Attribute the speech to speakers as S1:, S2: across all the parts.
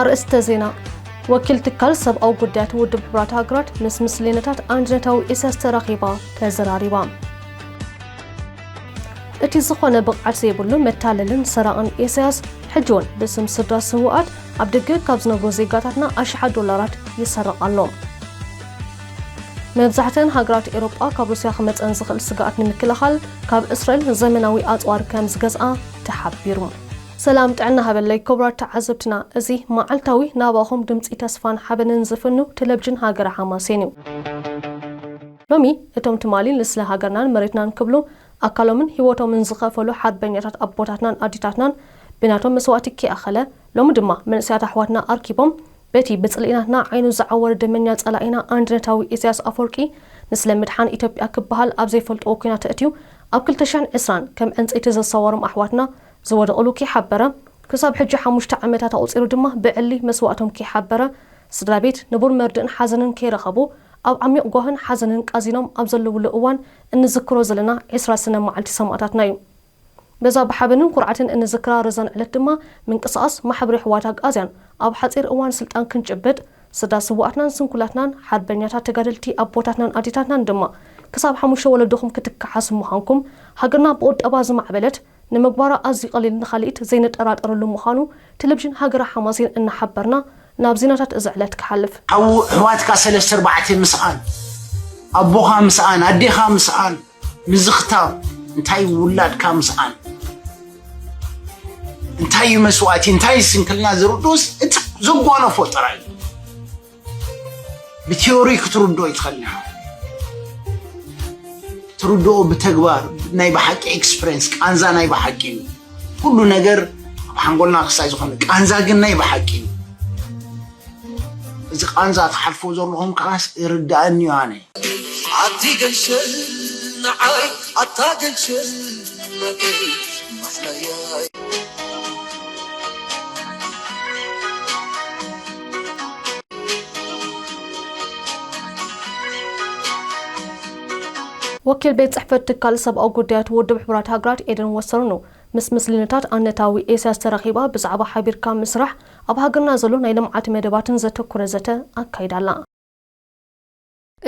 S1: ኣርእስተ ዜና ወኪል ትካል ሰብኣዊ ጉዳያት ውድብ ሕቡራት ሃገራት ምስ ምስሌነታት ኣንድነታዊ ኢሳያስ ተራኺባ ተዘራሪባ እቲ ዝኾነ ብቕዓት ዘይብሉ መታለልን ሰራቕን ኢሳያስ ሕጂ እውን ብስም ስድራ ስውኣት ኣብ ደገ ካብ ዝነብሩ ዜጋታትና ኣሽሓት ዶላራት ይሰረቕ ኣሎ። መብዛሕትኣን ሃገራት ኤሮጳ ካብ ሩስያ ክመጸን ዝኽእል ስግኣት ንምክልኻል ካብ እስራኤል ዘመናዊ ኣጽዋር ከም ዝገዝኣ ተሓቢሩ። ሰላም ጥዕና ሃበለይ ክቡራት ተዓዘብትና እዚ መዓልታዊ ናባኹም ድምጺ ተስፋን ሓበንን ዝፍኑ ተለብጅን ሃገረ ሓማሴን እዩ። ሎሚ እቶም ትማሊ ንስለ ሃገርናን መሬትናን ክብሉ ኣካሎምን ሂወቶምን ዝኸፈሉ ሓርበኛታት ኣቦታትናን ኣዴታትናን ብናቶም መስዋእቲ ከይኣኸለ ሎሚ ድማ መንእሰያት ኣሕዋትና ኣርኪቦም በቲ ብጽልኢ ናትና ዓይኑ ዝዓወረ ደመኛ ጸላኢና ኣንድነታዊ ኢሰያስ ኣፎርቂ ንስለ ምድሓን ኢትዮጵያ ክበሃል ኣብ ዘይፈልጥዎ ኩናት ተእትዩ ኣብ ክልተ ሽሕን ዕስራን ከም ዕንጸይቲ ዘሳዋሮም ኣሕዋትና ዝወደቕሉ ከይሓበረ ክሳብ ሕጂ ሓሙሽተ ዓመታት ኣቑጺሩ ድማ ብዕሊ መስዋእቶም ከይሓበረ ስድራቤት ንቡር መርድእን ሓዘንን ከይረኸቡ ኣብ ዓሚቕ ጓህን ሓዘንን ቃዚኖም ኣብ ዘለውሉ እዋን እንዝክሮ ዘለና ዕስራ ሰነ መዓልቲ ሰማእታትና እዩ። በዛ ብሓበንን ኩርዓትን እንዝክራ ረዛን ዕለት ድማ ምንቅስቓስ ማሕብር የሕዋት ኣግኣዝያን ኣብ ሓጺር እዋን ስልጣን ክንጭብጥ ስድራ ስውኣትናን ስንኩላትናን ሓርበኛታት ተጋደልቲ ኣቦታትናን ኣዴታትናን ድማ ክሳብ ሓሙሽተ ወለዶኹም ክትከሓሱ ምዃንኩም ሃገርና ብቑጠባ ዝማዕበለት ንምግባራ ኣዝዩ ቀሊል ንካልኢት ዘይንጠራጠረሉ ምዃኑ ቴሌቪዥን ሃገረ ሓማሴን እናሓበርና ናብ ዜናታት እዚ ዕለት ክሓልፍ። ሓው ኣሕዋትካ
S2: ሰለስተ ኣርባዕተ ምስኣን ኣቦኻ ምስኣን ኣዴኻ ምስኣን ምዝኽታር እንታይ ውላድካ ምስኣን እንታይ እዩ መስዋእቲ እንታይ ስንክልና ዝርድኡስ እቲ ዘጓነፎ ጥራይ እዩ። ብቲዮሪ ክትርድኦ ይትኸእል ኢና ትርድኦ ብተግባር ናይ ብሓቂ ኤክስፕሬንስ ቃንዛ ናይ ብሓቂ እዩ ኩሉ ነገር ኣብ ሓንጎልና ክሳይ ዝኾነ ቃንዛ ግን ናይ ብሓቂ እዩ እዚ ቃንዛ ትሓልፎ ዘለኹም ከዓስ ይርዳእኒ እዩ ኣነ ኣቲ
S3: ገንሸል ንዓይ ኣታ ገንሸል መገይ ማሕለያ
S1: ወኪል ቤት ጽሕፈት ትካል ሰብኣዊ ጉዳያት ውድብ ሕቡራት ሃገራት ኤደን ወሰርኑ ምስ ምስልነታት ኣነታዊ ኤስያስ ተራኺባ ብዛዕባ ሓቢርካ ምስራሕ ኣብ ሃገርና ዘሎ ናይ ልምዓት መደባትን ዘተኩረ ዘተ ኣካይዳ ኣላ።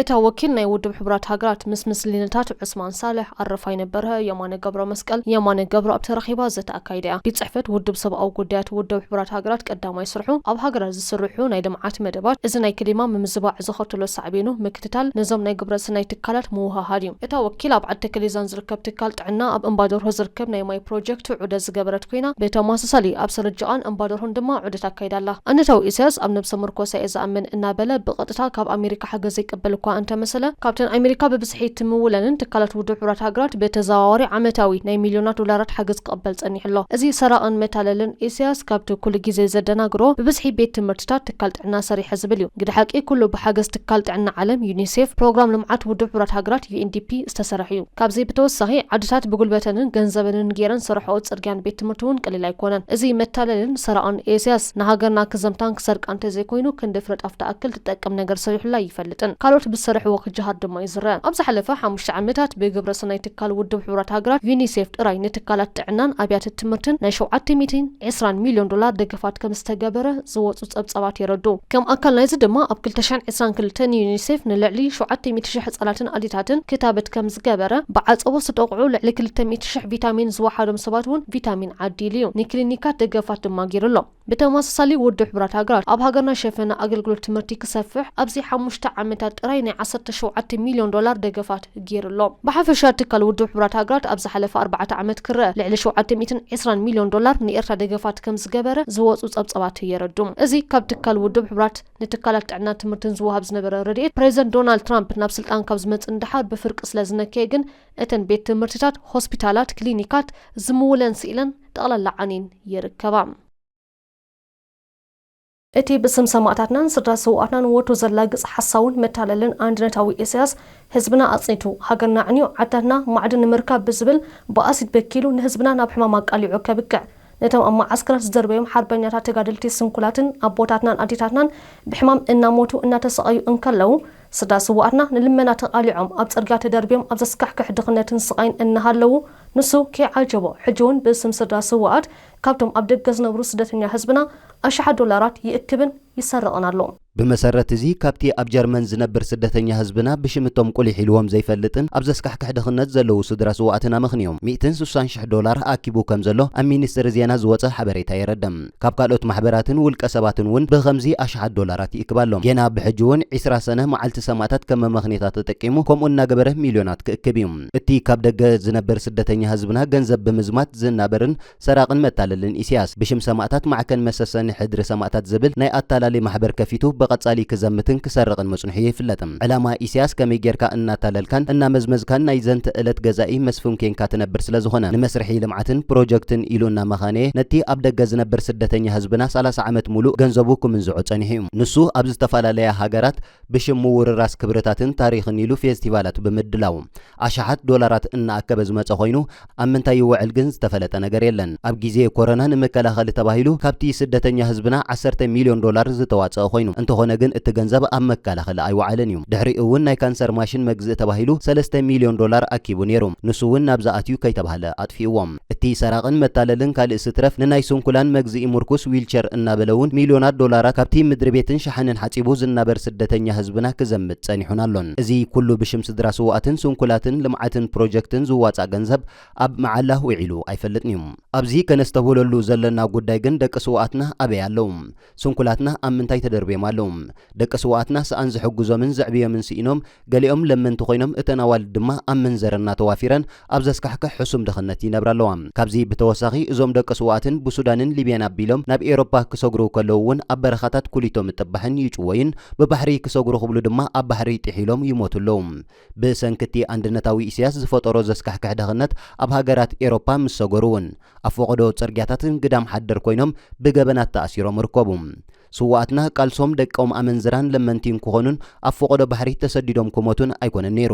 S1: እታ ወኪል ናይ ውድብ ሕቡራት ሃገራት ምስ ምስልልታት ዑስማን ሳልሕ፣ ኣረፋይነ በርሀ፣ የማነ ገብረመስቀል፣ የማነ ገብረኣብ፣ ተራኺባ ዘተ ኣካይዳ እያ። ቤት ጽሕፈት ውድብ ሰብኣዊ ጉዳያት ውድብ ሕቡራት ሃገራት ቀዳማይ ስርሑ ኣብ ሃገራት ዝስርሑ ናይ ልምዓት መደባት፣ እዚ ናይ ክሊማ ምምዝባዕ ዘኸትሎ ሳዕቤኑ ምክትታል፣ ነዞም ናይ ግብረስናይ ትካላት ምውህሃድ እዩ። እታ ወኪል ኣብ ዓዲ ተከሌዛን ዝርከብ ትካል ጥዕና ኣብ እምባደርሆ ዝርከብ ናይ ማይ ፕሮጀክት ዑደት ዝገበረት ኮይና ብተመሳሳሊ ኣብ ሰረጀቓን እምባደርሆን ድማ ዑደት ኣካይዳ ኣላ። ኣነታዊ ኢሳያስ ኣብ ነብሰ ምርኮሳ እየ ዝኣምን እናበለ ብቐጥታ ካብ ኣሜሪካ ሓገዝ ዘይቅበል እኳ እንተመሰለ ካብተን ኣሜሪካ ብብዝሒ እትምውለንን ትካላት ውድብ ሕቡራት ሃገራት ብተዘዋዋሪ ዓመታዊ ናይ ሚልዮናት ዶላራት ሓገዝ ክቕበል ጸኒሑ ኣሎ። እዚ ሰራቕን መታለልን ኢሳያስ ካብቲ ኩሉ ግዜ ዘደናግሮ ብብዝሒ ቤት ትምህርትታት ትካል ጥዕና ሰሪሐ ዝብል እዩ። ግደ ሓቂ ኩሉ ብሓገዝ ትካል ጥዕና ዓለም፣ ዩኒሴፍ፣ ፕሮግራም ልምዓት ውድብ ሕቡራት ሃገራት፣ UNDP፣ ዝተሰርሐ እዩ። ካብዚ ብተወሳኺ ዓድታት ብጉልበተንን ገንዘበንን ጌረን ዝሰርሐኦ ጽርግያን ቤት ትምህርቲ እውን ቀሊል ኣይኮነን። እዚ መታለልን ሰራቕን ኤስያስ ንሃገርና ክዘምታን ክሰርቃን እንተዘይኮይኑ ክንዲ ፍረጥ ኣፍ ትኣክል ትጠቅም ነገር ሰሪሑላ ኣይፈልጥን። ካልኦት ብዝሰርሕዎ ክጀሃር ድማ ይዝረ። ኣብ ዝሓለፈ ሓሙሽተ ዓመታት ብግብረ ሰናይ ትካል ውድብ ሕቡራት ሃገራት ዩኒሴፍ ጥራይ ንትካላት ጥዕናን ኣብያተ ትምህርትን ናይ ሸውዓተ ሚእትን ዕስራን ሚልዮን ዶላር ደገፋት ከምዝተገበረ ዝወጹ ጸብጻባት የረድኡ። ከም ኣካል ናይዚ ድማ ኣብ ክልተ ሽሕን ዕስራን ክልተን ንዩኒሴፍ ንልዕሊ ሸውዓተ ሚእቲ ሽሕ ህጻናትን ኣዴታትን ክታበት ከም ዝገበረ፣ ብዓጸቦ ዝተጠቕዑ ልዕሊ ክልተ ሚእቲ ሽሕ ቪታሚን ዝወሓዶም ሰባት እውን ቪታሚን ዓዲሉ እዩ፣ ንክሊኒካት ደገፋት ድማ ገይሩ ኣሎ። ብተመሳሳሊ ውድብ ሕቡራት ሃገራት ኣብ ሃገርና ሸፈነ ኣገልግሎት ትምህርቲ ክሰፍሕ ኣብዚ ሓሙሽተ ዓመታት ጥራይ ናይ ዓሰርተ ሸውዓተ ሚልዮን ዶላር ደገፋት፣ ገይሩ ኣሎ። ብሓፈሻ ትካል ውድብ ሕቡራት ሃገራት ኣብ ዝሓለፈ ኣርባዕተ ዓመት ክረኣ ልዕሊ ሸውዓተ ሚእትን ዕስራን ሚልዮን ዶላር ንኤርትራ ደገፋት ከም ዝገበረ ዝወጹ ጸብጻባት የረድኡ። እዚ ካብ ትካል ውድብ ሕቡራት ንትካላት ጥዕናን ትምህርትን ዝወሃብ ዝነበረ ረድኤት ፕረዚደንት ዶናልድ ትራምፕ ናብ ስልጣን ካብ ዝመጽእ ንደሓር ብፍርቂ ስለ ዝነከየ ግን እተን ቤት ትምህርትታት፣ ሆስፒታላት፣ ክሊኒካት ዝምውለን ስኢለን ጠቕላላ ዓንየን ይርከባ። እቲ ብስም ሰማእታትናን ስድራ ስውኣትናን ወትሩ ዘላግጽ ሓሳውን መታለልን ኣንድነታዊ ኢሰያስ፣ ህዝብና ኣጽኒቱ፣ ሃገርና ኣዕንዩ፣ ዓድታትና ማዕድን ንምርካብ ብዝብል ብኣሲድ በኪሉ ንህዝብና ናብ ሕማም ኣቃሊዑ ከብቅዕ፣ ነቶም ኣብ መዓስከራት ዝደርበዮም ሓርበኛታት ተጋደልቲ ስንኩላትን ኣቦታትናን ኣዴታትናን ብሕማም እናሞቱ እናተሰቐዩ እንከለዉ፣ ስድራ ስውኣትና ንልመና ተቓሊዖም ኣብ ጽርግያ ተደርብዮም ኣብ ዘስካሕክሕ ድኽነትን ስቓይን እናሃለዉ፣ ንሱ ከይዓጀቦ ሕጂውን ብስም ስድራ ስውኣት ካብቶም ኣብ ደገ ዝነብሩ ስደተኛ ህዝብና ኣሽሓት ዶላራት ይእክብን ይሰርቕን ኣሎ። ብመሰረት እዚ
S4: ካብቲ ኣብ ጀርመን ዝነብር ስደተኛ ህዝብና ብሽም እቶም ቁሊሕ ኢልዎም ዘይፈልጥን ኣብ ዘስካሕክሕ ድኽነት ዘለዉ ስድራ ስውኣትን ኣመኽንዩ ሚእትን ስሳን ሽሕ ዶላር ኣኪቡ ከምዘሎ ኣብ ሚኒስትሪ ዜና ዝወጸ ሓበሬታ የረድእ። ካብ ካልኦት ማሕበራትን ውልቀ ሰባትን እውን ብኸምዚ ኣሽሓት ዶላራት ይእክብ ኣሎ። ጌና ብሕጂ እውን ዒስራ ሰነ መዓልቲ ሰማእታት ከም መመኽኔታ ተጠቂሙ ከምኡ እናገበረ ሚልዮናት ክእክብ እዩ። እቲ ካብ ደገ ዝነብር ስደተኛ ህዝብና ገንዘብ ብምዝማት ዝናበርን ሰራቕን መታለልን ኢሲያስ ብሽም ሰማእታት ማዕከን መሰሰኒ ሕድሪ ሰማእታት ዝብል ናይ ኣታላሊ ማሕበር ከፊቱ ብቐጻሊ ክዘምትን ክሰርቕን ምጽንሑ ይፍለጥ። ዕላማ ኢሲያስ ከመይ ጌርካ እናታለልካን እናመዝመዝካን ናይ ዘንተ እለት ገዛኢ መስፍን ኴንካ ትነብር ስለ ዝኾነ ንመስርሒ ልምዓትን ፕሮጀክትን ኢሉ እናመኻነየ ነቲ ኣብ ደገ ዝነብር ስደተኛ ህዝብና ሰላሳ ዓመት ሙሉእ ገንዘቡ ክምንዝዖ ጸኒሑ'ዩ። ንሱ ኣብ ዝተፈላለያ ሃገራት ብሽም ምውርራስ ክብርታትን ታሪኽን ኢሉ ፌስቲቫላት ብምድላው ኣሽሓት ዶላራት እናኣከበ ዝመፀ ኮይኑ ኣብ ምንታይ ይውዕል ግን ዝተፈለጠ ነገር የለን። ኣብ ጊዜ ኮረና ንመከላኸሊ ተባሂሉ ካብቲ ስደተኛ ህዝብና ዓሰርተ ሚልዮን ዶላር ዝተዋፀኣ ኮይኑ እንተኾነ ግን እቲ ገንዘብ ኣብ መከላኸሊ ኣይወዓለን እዩ። ድሕሪኡ እውን ናይ ካንሰር ማሽን መግዝኢ ተባሂሉ ሰለስተ ሚልዮን ዶላር ኣኪቡ ነይሩ ንሱ እውን ናብዚ ኣትዩ ከይተብሃለ ኣጥፊእዎ። እቲ ሰራቕን መታለልን ካልእስ ይትረፍ ንናይ ስንኩላን መግዝኢ ሙርኩስ ዊልቸር እናበለ'ውን ሚልዮናት ዶላራት ካብቲ ምድሪቤትን ሸሓኒን ሓጺቡ ዝናበር ስደተኛ ህዝብና ክዘምት ጸኒሑን ኣሎን። እዚ ኩሉ ብሽም ስድራ ስዉኣትን ስንኩላትን ልምዓትን ፕሮጀክትን ዝዋጻእ ገንዘብ ኣብ መዓላ ውዒሉ ኣይፈልጥን'ዩ። ኣብዚ ከነስተብህለሉ ዘሎና ጉዳይ ግን ደቂ ስዉኣትና ኣበይ ኣለዉ? ስንኩላትና ኣብ ምንታይ ተደርብዮም ኣለዉ? ደቂ ስዉኣትና ሰኣን ዝሕግዞምን ዘዕብዮምን ስኢኖም ገሊኦም ለመንቲ ኮይኖም እተን ኣዋልድ ድማ ኣብ ምንዘርና ተዋፊረን ኣብ ዘስካሕክሕ ሕሱም ድኽነት ይነብራ ኣለዋ። ካብዚ ብተወሳኺ እዞም ደቂ ስውኣትን ብሱዳንን ሊብያን ኣቢሎም ናብ ኤሮፓ ክሰግሩ ከለዉ እውን ኣብ በረኻታት ኩሊቶ ምጥባሕን ይጭወዩን ብባሕሪ ክሰግሩ ክብሉ ድማ ኣብ ባሕሪ ጢሒሎም ይሞቱ ኣለዉ። ብሰንኪ እቲ ኣንድነታዊ ኢሰያስ ዝፈጠሮ ዘስካሕክሕ ድኽነት ኣብ ሃገራት ኤሮፓ ምስ ሰገሩ እውን ኣብ ፈቐዶ ጽርግያታት ግዳም ሓደር ኮይኖም ብገበናት ተኣሲሮም ይርከቡ። ስውኣትና ቃልሶም ደቆም ኣመንዝራን ለመንቲን ክኾኑን ኣብ ፈቖዶ ባሕሪ ተሰዲዶም ክሞቱን ኣይኮነን ነይሩ።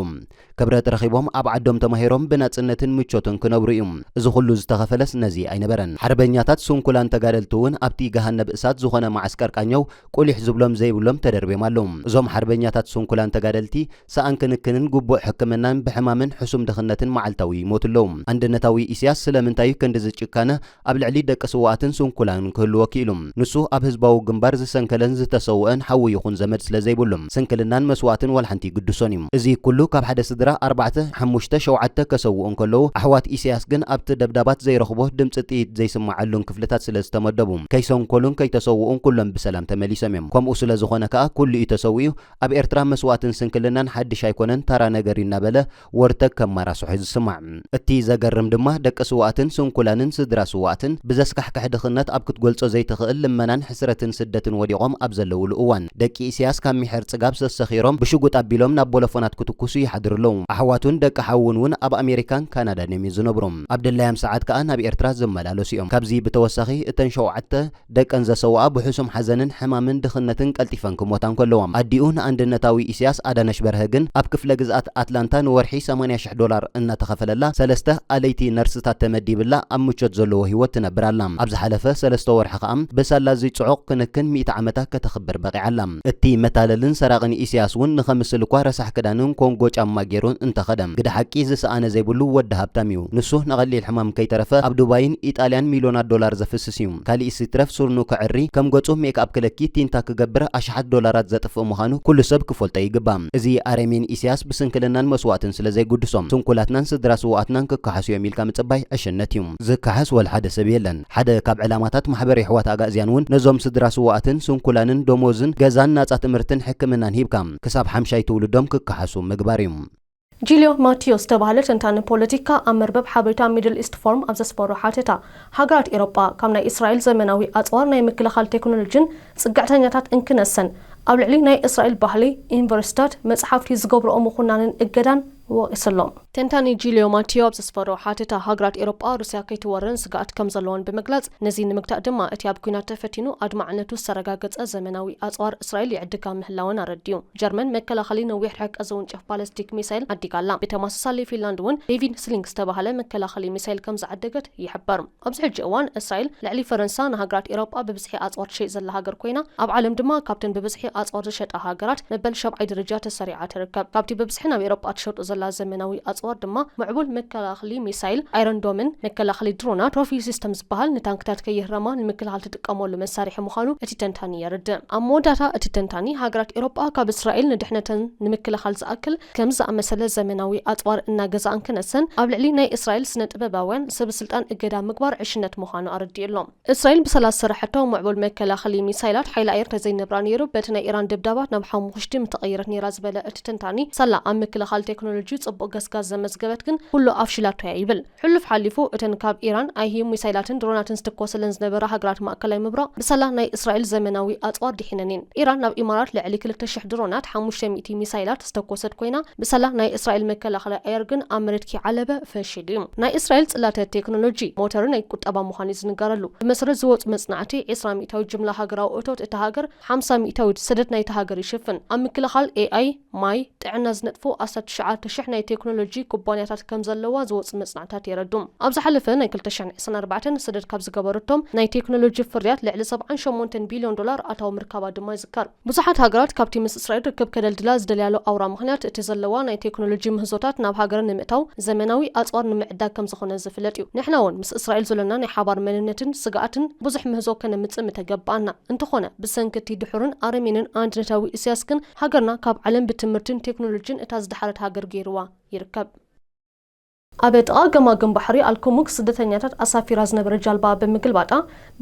S4: ክብረት ረኺቦም ኣብ ዓዶም ተማሂሮም ብናጽነትን ምቾትን ክነብሩ እዩ። እዚ ኩሉ ዝተኸፈለስ ነዚ ኣይነበረን። ሓርበኛታት ስንኩላን ተጋደልቲ እውን ኣብቲ ገሃነብ እሳት ዝኾነ መዓስከር ቃኘው ቁሊሕ ዝብሎም ዘይብሎም ተደርብዮም ኣለዉ። እዞም ሓርበኛታት ስንኩላን ተጋደልቲ ሰኣን ክንክንን ግቡእ ሕክምናን ብሕማምን ሕሱም ድኽነትን መዓልታዊ ይሞቱ ኣለዉ። ኣንድነታዊ ኢሲያስ ስለምንታይ እዩ ክንድዚ ጭካነ ኣብ ልዕሊ ደቂ ስውኣትን ስንኩላንን ክህልዎ ክኢሉ። ንሱ ኣብ ህዝባዊ ግንባር ዝሰንከለን ዝተሰውእን ሓዉ ይኹን ዘመድ ስለ ዘይብሉ፣ ስንክልናን መስዋእትን ዋልሓንቲ ይግድሶን እዩ። እዚ ኩሉ ካብ ሓደ ስድራ ኣርባዕተ፣ ሓሙሽተ፣ ሸውዓተ ከሰውኡ እንከለዉ፣ ኣሕዋት ኢሰያስ ግን ኣብቲ ደብዳባት ዘይረኽቦ፣ ድምጺ ጥይት ዘይስምዓሉን ክፍልታት ስለ ዝተመደቡ፣ ከይሰንከሉን ከይተሰውኡን ኩሎም ብሰላም ተመሊሶም እዮም። ከምኡ ስለ ዝኾነ ከኣ ኩሉ'ዩ ተሰዊኡ። ኣብ ኤርትራ መስዋእትን ስንክልናን ሓድሽ ኣይኮነን፣ ታራ ነገር እዩ እናበለ፣ ወርጠግ ከም ማራሶሕ እዩ ዝስማዕ። እቲ ዘገርም ድማ ደቂ ስውኣትን ስንኩላንን ስድራ ስውኣትን ብዘስካሕክሕ ድኽነት ኣብ ክትገልጾ ዘይትኽእል ልመናን ሕስረትን ስደትን ወዲቖም ኣብ ዘለውሉ እዋን ደቂ ኢሰያስ ካብ ሚሕር ጽጋብ ሰሰኺሮም ብሽጉጥ ኣቢሎም ናብ ቦሎፎናት ክትኩሱ ይሓድሩ ኣለዉ። ኣሕዋቱን ደቂ ሓዉን ውን ኣብ ኣሜሪካን ካናዳን እዮም ዝነብሩ። ኣብ ድላያም ሰዓት ከኣ ናብ ኤርትራ ዝመላለሱ እዮም። ካብዚ ብተወሳኺ እተን ሸውዓተ። ደቀን ዘሰውኣ ብሕሱም ሓዘንን ሕማምን ድኽነትን ቀልጢፈን ክሞታ እንከለዋ፣ ኣዲኡ ንኣንድነታዊ ኢሲያስ ኣዳነሽ በርሀ ግን ኣብ ክፍለ ግዝኣት ኣትላንታ ንወርሒ ሰማንያ ሽሕ ዶላር እናተኸፈለላ ሰለስተ ኣለይቲ ነርስታት ተመዲብላ ኣብ ምቾት ዘለዎ ህይወት ትነብር ኣላ። ኣብ ዝሓለፈ ሰለስተ ወርሒ ከኣ ብሳላ እዚ ጽዑቕ ክንክን ሚእቲ ዓመታ ከተኽብር በቒዓ ኣላ። እቲ መታለልን ሰራቕን ኢሲያስ ውን ንኸምስል እኳ ረሳሕ ክዳንን ኮንጎ ጫማ ጌሩ እንተኸደ፣ ግደ ሓቂ ዝሰኣነ ዘይብሉ ወዲ ሃብታም እዩ። ንሱ ንቐሊል ሕማም ከይተረፈ ኣብ ዱባይን ኢጣልያን ሚልዮናት ዶላር ዘፍስስ፣ ዘየገድስ እዩ። ካሊእስ ይትረፍ ሱርኑ ከዕሪ፣ ከም ገጹ ሜክኣፕ ክለኪ፣ ቲንታ ክገብር ኣሽሓት ዶላራት ዘጥፍእ ምዃኑ ኩሉ ሰብ ክፈልጦ ይግባእ። እዚ ኣረሜን ኢሰያስ ብስንክልናን መስዋእትን ስለ ዘይጉድሶም ስንኩላትናን ስድራ ስውኣትናን ክከሓሱ እዮም ኢልካ ምጽባይ ዕሽነት እዩ። ዝከሓስ ወልሓደ ሰብ የለን። ሓደ ካብ ዕላማታት ማሕበር የሕዋት ኣጋእዝያን እውን ነዞም ስድራ ስውኣትን ስንኩላንን ደሞዝን ገዛን ናጻ ትምህርትን ሕክምናን ሂብካ ክሳብ ሓምሻይ ትውልዶም ክከሓሱ ምግባር እዩ። ጂልዮ ማቲዮ
S1: ዝተባህለ ተንታኒ ፖለቲካ ኣብ መርበብ ሓበሬታ ሚድል ኢስት ፎርም ኣብ ዘስፈሮ ሓተታ፣ ሃገራት ኤሮጳ ካብ ናይ እስራኤል ዘመናዊ ኣጽዋር ናይ ምክልኻል ቴክኖሎጂን ጽግዕተኛታት እንክነሰን ኣብ ልዕሊ ናይ እስራኤል ባህሊ፣ ዩኒቨርሲታት፣ መጽሓፍቲ ዝገብርኦ ምኹናንን እገዳን ወቒሱ ኣሎ። ተንታኒ ጂልዮ ማቲዮ ኣብ ዘስፈሮ ሓተታ፣ ሃገራት ኤሮጳ ሩስያ ከይትወረን ስግኣት ከም ዘለወን ብምግላጽ፣ ነዚ ንምግታእ ድማ እቲ ኣብ ኲናት ተፈቲኑ ኣድማዕነቱ ዝተረጋገጸ ዘመናዊ ኣጽዋር እስራኤል ይዕድጋ ምህላወን ኣረዲኡ። ጀርመን መከላኸሊ ነዊሕ ርሕቀት ዝውንጨፍ ባለስቲክ ሚሳይል ዓዲጋ ኣላ። ብተመሳሳሊ ፊንላንድ እውን ዴቪድ ስሊንግ ዝተበሃለ መከላኸሊ ሚሳይል ከምዝዓደገት ይሕበር። ኣብዚ ሕጂ እዋን እስራኤል ልዕሊ ፈረንሳ ንሃገራት ኤሮጳ ብብዝሒ ኣጽዋር ትሸይጥ ዘላ ሃገር ኮይና፣ ኣብ ዓለም ድማ ካብተን ብብዝሒ ኣጽዋር ዝሸጣ ሃገራት መበል ሻብዓይ ደረጃ ተሰሪዓ ትርከብ። ካብቲ ብብዝሒ ናብ ኤሮጳ ትሸጦ ዘላ ዘመናዊ ኣጽዋር ድማ ምዕቡል መከላኸሊ ሚሳይል ኣይረን ዶምን መከላኸሊ ድሮናት ትሮፊ ሲስተም ዝበሃል ንታንክታት ከይህረማ ንምክልኻል እትጥቀመሉ መሳርሒ ምዃኑ እቲ ተንታኒ የርድእ። ኣብ መወዳእታ እቲ ተንታኒ፣ ሃገራት ኤውሮጳ ካብ እስራኤል ንድሕነተን ንምክልኻል ዝኣክል ከምዚ ዝኣመሰለ ዘመናዊ ኣጽዋር እናገዛኣን ክነሰን ኣብ ልዕሊ ናይ እስራኤል ስነ-ጥበባውያን ሰበስልጣን እገዳ ምግባር ዕሽነት ምዃኑ ኣረዲኡ ኣሎ። እስራኤል ብሰላ ዝሰረሐቶ ምዕቡል መከላኸሊ ሚሳይላት ሓይሊ ኣየር ተዘይነብራ ነይሩ በቲ ናይ ኢራን ደብዳባት ናብ ሓሙኹሽቲ ምተቐየረት ነይራ ዝበለ እቲ ተንታኒ፣ ሳላ ኣብ ምክልኻል ቴክኖሎጂ ጽቡቕ ገስጋስ ዘመዝገበት ግን ኩሉ ኣፍሺላቶ'ያ ይብል። ሕሉፍ ሓሊፉ እተን ካብ ኢራን ኣይሂ ሚሳይላትን ድሮናትን ዝትኮሰለን ዝነበራ ሃገራት ማእከላይ ምብራቕ ብሳላ ናይ እስራኤል ዘመናዊ ኣጽዋር ዲሒነን እየን። ኢራን ናብ ኢማራት ልዕሊ ክልተ ሽሕ ድሮናት፣ ሓሙሽተ ሚእቲ ሚሳይላት ዝተኮሰት ኮይና ብሳላ ናይ እስራኤል መከላኸሊ ኣየር ግን ኣብ መሬት ክይዓለበ ፈሺሉ እዩ። ናይ እስራኤል ጽላተ ቴክኖሎጂ፣ ሞተር ናይ ቁጠባ ምዃኑ እዩ ዝንገረሉ። ብመሰረት ዝወጹ መጽናዕቲ ዕስራ ሚእታዊት ጅምላ ሃገራዊ እቶት እታ ሃገር ሓምሳ ሚእታዊት ሰደድ ናይታ ሃገር ይሽፍን። ኣብ ምክልኻል፣ AI፣ ማይ፣ ጥዕና ዝነጥፉ ኣስታት ትሽዓተ ሽሕ ናይ ቴክኖሎጂ ኩባንያታት ከም ዘለዋ ዝወጹ መጽናዕትታት የረድኡ። ኣብ ዝሓለፈ ናይ ክልተ ሽሕን ዕስራን ኣርባዕተን ሰደድ ካብ ዝገበረቶም ናይ ቴክኖሎጂ ፍርያት ልዕሊ ሰብዓን ሸሞንተን ቢልዮን ዶላር ኣታዊ ምርካባ ድማ ይዝከር። ብዙሓት ሃገራት ካብቲ ምስ እስራኤል ርክብ ከደልድላ ዝደልያሉ ኣውራ ምኽንያት እቲ ዘለዋ ናይ ቴክኖሎጂ ምህዞታት ናብ ሃገረን ንምእታው ዘመናዊ ኣጽዋር ንምዕዳግ ከም ዝኾነ ዝፍለጥ እዩ። ንሕና'ውን ምስ እስራኤል ዘሎና ናይ ሓባር መንነትን ስግኣትን ብዙሕ ምህዞ ከነምጽእ ምተገብኣና። እንተኾነ ብሰንኪ እቲ ድሑርን ኣረሜንን ኣንድነታዊ ኢሳያስ ግን ሃገርና ካብ ዓለም ብትምህርቲን ቴክኖሎጂን እታ ዝደሓረት ሃገር ገይሩዋ ይርከብ። ኣብ ጥቓ ገማግም ባሕሪ ኣልኩሙክ ስደተኛታት ኣሳፊራ ዝነበረ ጃልባ ብምግልባጣ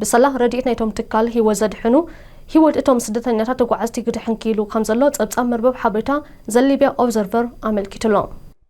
S1: ብሰላ ረድኤት ናይቶም ትካል ህይወት ዘድሕኑ ህይወት እቶም ስደተኛታት ተጓዓዝቲ ክድሕን ክኢሉ ከምዘሎ ጸብጻብ መርበብ ሓበሬታ ዘ ሊብያ ኦብዘርቨር ኣመልኪቱ'ሎ።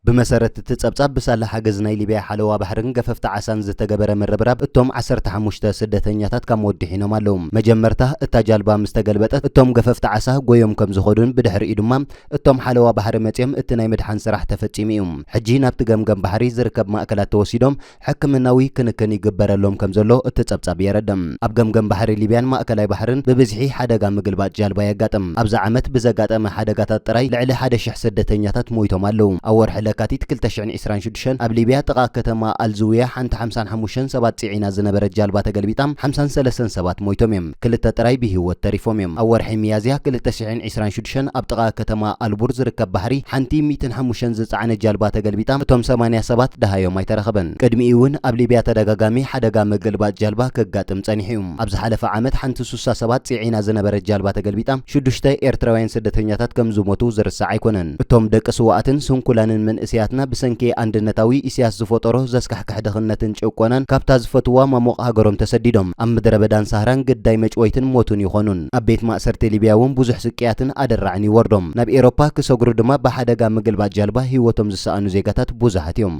S1: ብመሰረት እቲ ጸብጻብ፣ ብሳላ ሓገዝ ናይ ሊብያ ሓለዋ ባሕርን ገፈፍቲ ዓሳን ዝተገበረ ምርብራብ፣ እቶም ዓሰርተ ሓሙሽተ ስደተኛታት ካብ ሞት ድሒኖም ኣለዉ። መጀመርታ እታ ጃልባ ምስ ተገልበጠት፣ እቶም ገፈፍቲ ዓሳ ጎዮም ከም ዝኸዱን ብድሕሪኡ ድማ እቶም ሓለዋ ባሕሪ መጺኦም እቲ ናይ ምድሓን ስራሕ ተፈጺሙ እዩ። ሕጂ ናብቲ ገምገም ባሕሪ ዝርከብ ማእከላት ተወሲዶም ሕክምናዊ ክንክን ይግበረሎም ከምዘሎ እቲ ጸብጻብ የረድእ። ኣብ ገምገም ባሕሪ ሊብያን ማእከላይ ባሕርን ብብዝሒ ሓደጋ ምግልባጥ ጃልባ የጋጥም። ኣብዚ ዓመት ብዘጋጠመ ሓደጋታት ጥራይ ልዕሊ ሓደ ሽሕ ስደተኛታት ሞይቶም ኣለዉ። ኣብ ወርሒ ለካቲት ክልተ ሽሕን ዕስራን ሽዱሽተን ኣብ ሊብያ ጥቓ ከተማ ኣልዝውያ ሓንቲ ሓምሳን ሓሙሽተን ሰባት ጽዒና ዝነበረት ጃልባ ተገልቢጣ ሓምሳን ሰለስተን ሰባት ሞይቶም እዮም። ክልተ ጥራይ ብሂወት ተሪፎም እዮም። ኣብ ወርሒ ሚያዝያ ክልተ ሽሕን ዒስራን ሽዱሽተን ኣብ ጥቓ ከተማ ኣልቡር ዝርከብ ባሕሪ ሓንቲ ሚእትን ሓሙሽተን ዝጸዓነት ጃልባ ተገልቢጣ እቶም ሰማንያ ሰባት ደሃዮም ኣይተረኸበን። ቅድሚኡ'ውን ኣብ ሊብያ ተደጋጋሚ ሓደጋ ምግልባጥ ጃልባ ከጋጥም ጸኒሑ እዩ። ኣብ ዝሓለፈ ዓመት ሓንቲ ሱሳ ሰባት ጽዒና ዝነበረት ጃልባ ተገልቢጣ ሽዱሽተ ኤርትራውያን ስደተኛታት ከም ዝሞቱ ዝርሳዕ ኣይኮነን። እቶም ደቂ ስዉኣትን ስንኩላንን መንእሰያትና ብሰንኪ ኣንድነታዊ ኢሲያስ ዝፈጠሮ ዘስካሕክሕ ዘስካሕክሕ ድኽነትን ጭቆናን ካብታ ዝፈትውዋ ማሙቕ ሃገሮም ተሰዲዶም ኣብ ምድረበዳን ሳህራን ግዳይ መጭወይትን ሞትን ይኾኑን። ኣብ ቤት ማእሰርቲ ሊብያ እውን ብዙሕ ስቅያትን ኣደራዕን ይወርዶም። ናብ ኤሮፓ ክሰግሩ ድማ ብሓደጋ ምግልባጥ ጃልባ ህይወቶም ዝሰኣኑ ዜጋታት ብዙሓት እዮም።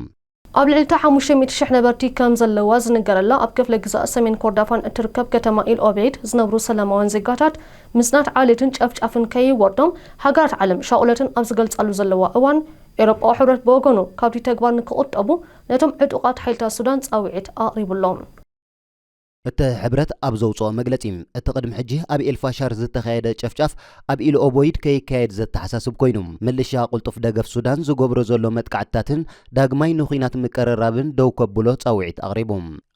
S1: ኣብ ልዕሊ እታ ሓሙሽተ ሚእቲ ሽሕ ነበርቲ ከም ዘለዋ ዝንገረላ ኣብ ክፍለ ግዝኣት ሰሜን ኮርዳፋን እትርከብ ከተማ ኢል ኦቤይድ ዝነብሩ ሰላማውያን ዜጋታት ምጽናት ዓሌትን ጨፍጫፍን ከይወርዶም ሃገራት ዓለም ሻቑለተን ኣብ ዝገልጻሉ ዘለዋ እዋን ኤውሮጳዊ ሕብረት ብወገኑ ካብቲ ተግባር ንክቑጠቡ ነቶም ዕጡቓት ሓይልታት ሱዳን ጻውዒት ኣቕሪቡ ኣሎ። እቲ ሕብረት ኣብ ዘውጽኦ መግለጺ፣ እቲ ቅድሚ ሕጂ ኣብ ኤልፋሻር ዝተኻየደ ጨፍጫፍ ኣብ ኢልኦቦይድ ከይካየድ ዘተሓሳስብ ኮይኑ፣ ምልሻ ቅልጡፍ ደገፍ ሱዳን ዝገብሮ ዘሎ መጥቃዕትታትን ዳግማይ ንኲናት ምቅርራብን ደው ከብሎ ጻውዒት ኣቕሪቡ።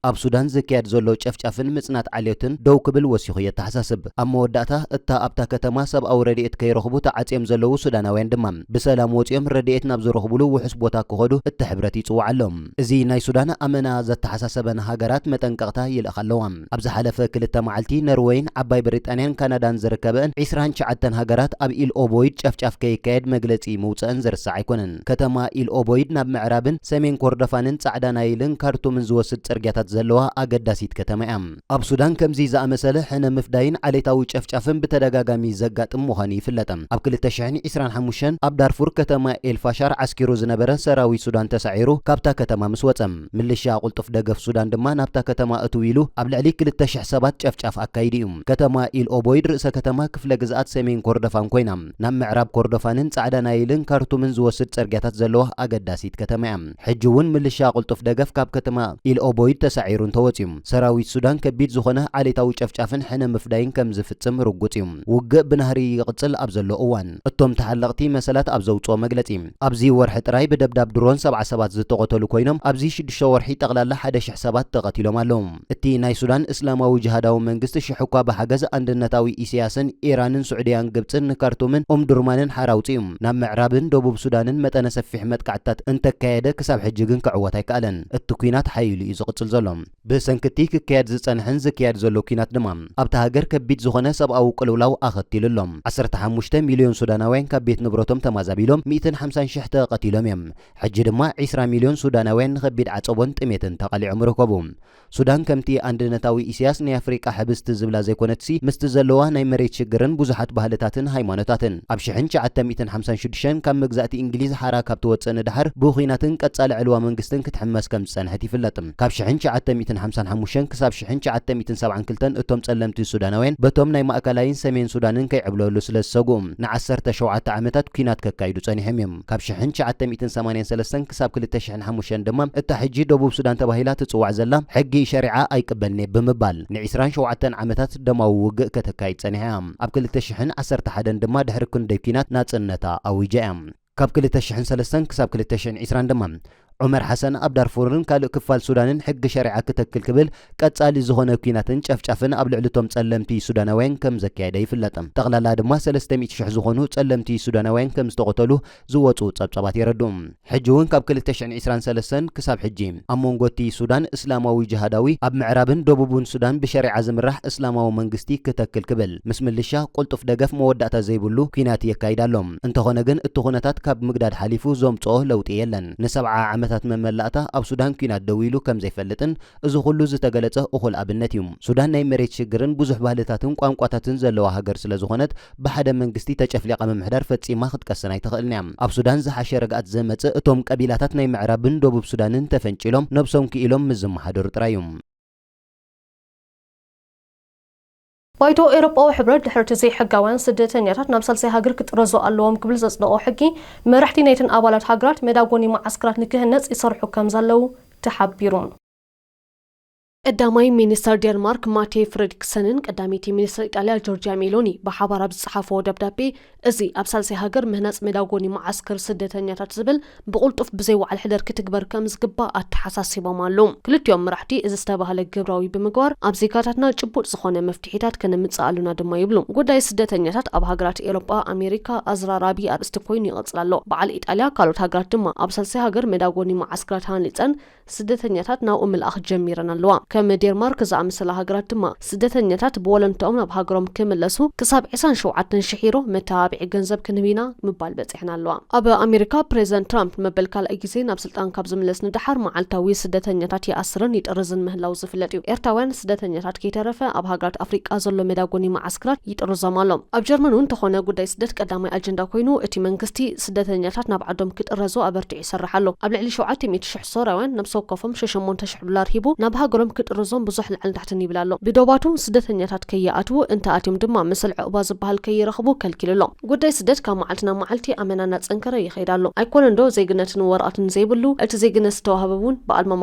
S1: ኣብ ሱዳን ዝካየድ ዘሎ ጨፍጫፍን ምጽናት ዓልዮትን ደው ክብል ወሲኹ የተሓሳስብ። ኣብ መወዳእታ፣ እታ ኣብታ ከተማ ሰብኣዊ ረድኤት ከይረኽቡ ተዓጽዮም ዘለዉ ሱዳናውያን ድማ፣ ብሰላም ወጺኦም ረድኤት ናብ ዝረኽቡሉ ውሑስ ቦታ ክኸዱ እቲ ሕብረት ይጽውዓሎም። እዚ ናይ ሱዳን ኣመና ዘተሓሳሰበን ሃገራት መጠንቀቕታ ይልእኻ ኣለዋ። ኣብ ዝሓለፈ ክልተ መዓልቲ፣ ነርወይን ዓባይ ብሪጣንያን ካናዳን ዝርከበእን ዒስራን ትሽዓተን ሃገራት ኣብ ኢል ኦቦይድ ጨፍጫፍ ከይካየድ መግለጺ ምውጸእን ዝርሳዕ ኣይኮነን። ከተማ ኢል ኦቦይድ ናብ ምዕራብን ሰሜን ኮርዶፋንን ጻዕዳ ናይልን ካርቱምን ዝወስድ ጽርግያታት ዘለዋ
S4: ኣገዳሲት ከተማ እያ። ኣብ ሱዳን ከምዚ ዝኣመሰለ ሕነ ምፍዳይን ዓሌታዊ ጨፍጫፍን ብተደጋጋሚ ዘጋጥም ምዃኑ ይፍለጥ። ኣብ ክልተ ሽሕን ዒስራን ሓሙሽተን ኣብ ዳርፉር ከተማ ኤል ፋሻር ዓስኪሩ ዝነበረ ሰራዊት ሱዳን ተሳዒሩ ካብታ ከተማ ምስ ወጸ፣ ምልሻ ቅልጡፍ ደገፍ ሱዳን ድማ ናብታ ከተማ እትው ኢሉ ኣብ ልዕሊ ክልተ ሽሕ ሰባት ጨፍጫፍ ኣካይዱ እዩ። ከተማ ኢል ኦቦይድ ርእሰ ከተማ ክፍለ ግዝኣት ሰሜን ኮርዶፋን ኮይና፣ ናብ ምዕራብ ኮርዶፋንን ጻዕዳ ናይልን ካርቱምን ዝወስድ ጸርግያታት ዘለዋ ኣገዳሲት ከተማ እያ። ሕጂ እውን ምልሻ ቅልጡፍ ደገፍ ካብ ከተማ ኢል ኦቦይድ ተሳዒሩ እንተወጺኡ፣ ሰራዊት ሱዳን ከቢድ ዝኾነ ዓሌታዊ ጨፍጫፍን ሕነ ምፍዳይን ከም ዝፍጽም ርጉጽ እዩ። ውግእ ብናህሪ ይቕጽል ኣብ ዘሎ እዋን፣ እቶም ተሓለቕቲ መሰላት ኣብ ዘውጽኦ መግለጺ፣ ኣብዚ ወርሒ ጥራይ ብደብዳብ ድሮን ሰብዓ ሰባት ዝተቐተሉ ኮይኖም፣ ኣብዚ ሽዱሽተ ወርሒ ጠቕላላ ሓደ ሽሕ ሰባት ተቐቲሎም ኣለዉ። እቲ ናይ ሱዳን እስላማዊ ጅሃዳዊ መንግስቲ ሽሕ'ኳ ብሓገዝ ኣንድነታዊ ኢሰያስን ኢራንን ሱዕድያን ግብጽን ንካርቱምን ኡምዱርማንን ሓራ ኣውጺኡ ናብ ምዕራብን ደቡብ ሱዳንን መጠነ ሰፊሕ መጥቃዕትታት እንተካየደ ክሳብ ሕጂ ግን ክዕወት ኣይከኣለን። እቲ ኲናት ሓዪሉ እዩ ዝቕጽል ዘሎ። ብሰንኪ'ቲ ክካየድ ዝጸንሐን ዝካየድ ዘሎ ኲናት ድማ ኣብታ ሃገር ከቢድ ዝኾነ ሰብኣዊ ቅልውላው ኣኸቲሉ ኣሎ። ዓሰርተ ሓሙሽተ ሚልዮን ሱዳናውያን ካብ ቤት ንብረቶም ተማዛቢሎም፣ ሚእትን ሓምሳን ሽሕ ተቐቲሎም እዮም። ሕጂ ድማ ዒስራ ሚልዮን ሱዳናውያን ንኸቢድ ዓጸቦን ጥሜትን ተቓሊዖም ይርከቡ። ሱዳን ከምቲ ኣንድነታዊ ኢሲያስ ናይ ኣፍሪቃ ሕብስቲ ዝብላ ዘይኮነትሲ ምስቲ ዘለዋ ናይ መሬት ሽግርን ብዙሓት ባህልታትን ሃይማኖታትን ኣብ ሽሕን ትሽዓተ ሚእትን ሓምሳን ሽዱሽተን ካብ መግዛእቲ እንግሊዝ ሓራ ካብ ትወጽእ ንደሓር ብኹናትን ቀጻሊ ዕልዋ መንግስትን ክትሕመስ ከም ዝጸንሐት ይፍለጥ። ካብ ሽሕን ትሽዓተ ሚእትን ሓምሳን ሓሙሽተን ክሳብ ሽሕን ትሽዓተ ሚእትን ሰብዓን ክልተን እቶም ጸለምቲ ሱዳናውያን በቶም ናይ ማእከላይን ሰሜን ሱዳንን ከይዕብለሉ ስለ ዝሰግኡ ንዓሰርተ ሸውዓተ ዓመታት ኲናት ከካይዱ ጸኒሖም እዮም። ካብ ሽሕን ትሽዓተ ሚእትን ሰማንያን ሰለስተን ክሳብ ክልተ ሽሕን ሓሙሽተን ድማ እታ ሕጂ ደቡብ ሱዳን ተባሂላ ትጽዋዕ ዘላ ሕጊ ሸሪዓ ኣይቅበልን'የ ብምባል ንዒስራን ሸውዓተን ዓመታት ደማዊ ውግእ ከተካይድ ጸኒሓ'ያ። ኣብ ክልተ ሽሕን ዓሰርተ ሓደን ድማ ድሕሪ ክንደይ ኲናት ናጽነታ ኣዊጃ'ያ። ካብ ክልተ ሽሕን ሰለስተን ክሳብ ክልተ ሽሕን ዒስራን ድማ ዑመር ሓሰን ኣብ ዳርፉርን ካልእ ክፋል ሱዳንን ሕጊ ሸሪዓ ክተክል ክብል ቀጻሊ ዝኾነ ኲናትን ጨፍጫፍን ኣብ ልዕሊ'ቶም ጸለምቲ ሱዳናውያን ከም ዘካየደ ይፍለጥ። ጠቕላላ ድማ ሰለስተ ሚእቲ ሽሕ ዝኾኑ ጸለምቲ ሱዳናውያን ከም ዝተቐተሉ ዝወጹ ጸብጻባት የረድኡ። ሕጂ'ውን ካብ ክልተ ሽሕን ዕስራን ሰለስተን ክሳብ ሕጂ፣ ኣብ መንጎ'ቲ ሱዳን እስላማዊ ጅሃዳዊ ኣብ ምዕራብን ደቡብን ሱዳን ብሸሪዓ ዝምራሕ እስላማዊ መንግስቲ ክተክል ክብል ምስ ምልሻ ቁልጡፍ ደገፍ መወዳእታ ዘይብሉ ኲናት የካይድ ኣሎ። እንተኾነ ግን እቲ ኩነታት ካብ ምግዳድ ሓሊፉ ዘምጽኦ ለውጢ የለን። ንሰብዓ ዓመታት መመላእታ ኣብ ሱዳን ኲናት ደው ኢሉ ከም ዘይፈልጥን እዚ ኩሉ ዝተገለጸ እኹል ኣብነት እዩ። ሱዳን ናይ መሬት ሽግርን ብዙሕ ባህልታትን ቋንቋታትን ዘለዋ ሃገር ስለ ዝኾነት ብሓደ መንግስቲ ተጨፍሊቓ ምምሕዳር ፈጺማ ክትቀስን ኣይትኽእልን እያ። ኣብ ሱዳን ዝሓሸ ርግኣት ዘመጽእ እቶም ቀቢላታት ናይ ምዕራብን ደቡብ ሱዳንን ተፈንጪሎም ነብሶም ክኢሎም ምስ ዝመሓደሩ ጥራይ እዩ።
S1: ባይቶ ኤውሮጳዊ ሕብረት ድሕሪ'ቲ ዘይሕጋውያን ስደተኛታት ናብ ሳልሳይ ሃገር ክጥረዙ ኣለዎም ክብል ዘጽደቖ ሕጊ፣ መራሕቲ ናይተን ኣባላት ሃገራት መዳጎኒ መዓስከራት ንክህነጽ ይሰርሑ ከምዘለዉ ተሓቢሩ። ቀዳማይ ሚኒስተር ዴንማርክ ማቴ ፍረድሪክሰንን ቀዳመይቲ ሚኒስተር ኢጣልያ ጆርጅያ ሜሎኒ ብሓባር ኣብ ዝጸሓፍዎ ደብዳቤ፣ እዚ ኣብ ሳልሳይ ሃገር ምህናጽ መዳጎኒ መዓስከር ስደተኛታት ዝብል ብቕልጡፍ ብዘይ ወዓል ሕደር ክትግበር ከምዝግባእ ኣተሓሳሲቦም ኣለው። ክልቲኦም መራሕቲ እዚ ዝተባህለ ግብራዊ ብምግባር ኣብ ዜጋታትና ጭቡጥ ዝኾነ መፍትሒታት ከነምጽእ ኣሎና ድማ ይብሉ። ጉዳይ ስደተኛታት ኣብ ሃገራት ኤሮጳ ኣሜሪካ ኣዝራራቢ ኣርእስቲ ኮይኑ ይቕጽል ኣሎ። በዓል ኢጣልያ ካልኦት ሃገራት ድማ ኣብ ሳልሳይ ሃገር መዳጎኒ መዓስከራት ሃኒጸን ስደተኛታት ናብኡ ምልኣኽ ጀሚረን ኣለዋ። ከም ዴርማርክ ዝኣመሰላ ሃገራት ድማ፣ ስደተኛታት ብወለንትኦም ናብ ሃገሮም ክምለሱ ክሳብ ዕስራን ሸውዓተን ሽሕ ዩሮ መተባብዒ ገንዘብ ክንህብ ኢና ምባል በጺሐን ኣለዋ። ኣብ ኣሜሪካ፣ ፕሬዚደንት ትራምፕ ንመበል ካልኣይ ግዜ ናብ ስልጣን ካብ ዝምለስ ንደሓር፣ መዓልታዊ ስደተኛታት ይኣስርን ይጥርዝን ምህላዉ ዝፍለጥ እዩ። ኤርትራውያን ስደተኛታት ከይተረፈ፣ ኣብ ሃገራት ኣፍሪቃ ዘሎ መዳጎኒ መዓስክራት ይጥርዞም ኣሎ። ኣብ ጀርመን እውን እንተኾነ ጉዳይ ስደት ቀዳማይ ኣጀንዳ ኮይኑ፣ እቲ መንግስቲ ስደተኛታት ናብ ዓዶም ክጥረዙ ኣበርቲዑ። ይሰርሕ ኣሎ። ኣብ ልዕሊ ሸውዓተ ሚእቲ ሽሕ ሶርያውያን ነብሲ ወከፎም ሸሸሞንተ ሽሕ ዱላር ሂቡ ናብ ሃገሮም ክጥርዞም ብዙሕ ላዕልን ታሕትን ይብል ኣሎ። ብዶባቱ ስደተኛታት ከይኣትዉ፣ እንተ ኣትዮም ድማ ምስል ዑቕባ ዝበሃል ከይረኽቡ ከልኪሉ ኣሎ። ጉዳይ ስደት ካብ መዓልቲ ናብ መዓልቲ ኣመና እናጸንከረ ይኸይድ ኣሎ። ኣይኮነንዶ ዜግነትን ወረቐትን ዘይብሉ፣ እቲ ዜግነት ዝተዋህበ እውን ብኣልማማ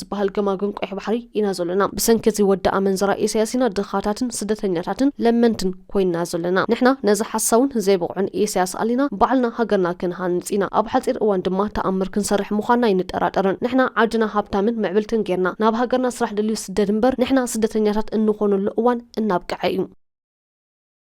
S1: ዝበሃል ገማግም ቀይሕ ባሕሪ ኢና ዘሎና። ብሰንኪ እዚ ወዲ ኣመንዝራ ኢሳያስ ኢና ድኻታትን ስደተኛታትን ለመንትን ኮይንና ዘለና። ንሕና ነዚ ሓሳውን ዘይብቕዑን ኢሳያስ ኣሊና ባዕልና ሃገርና ክንሃንጽ ኢና። ኣብ ሓጺር እዋን ድማ ተኣምር ክንሰርሕ ምዃንና ኣይንጠራጠርን። ንሕና ዓድና ሃብታምን ምዕብልትን ጌርና ናብ ሃገርና ስራሕ ደልዩ ስደድ እምበር ንሕና ስደተኛታት እንኾነሉ እዋን እናብቅዐ እዩ።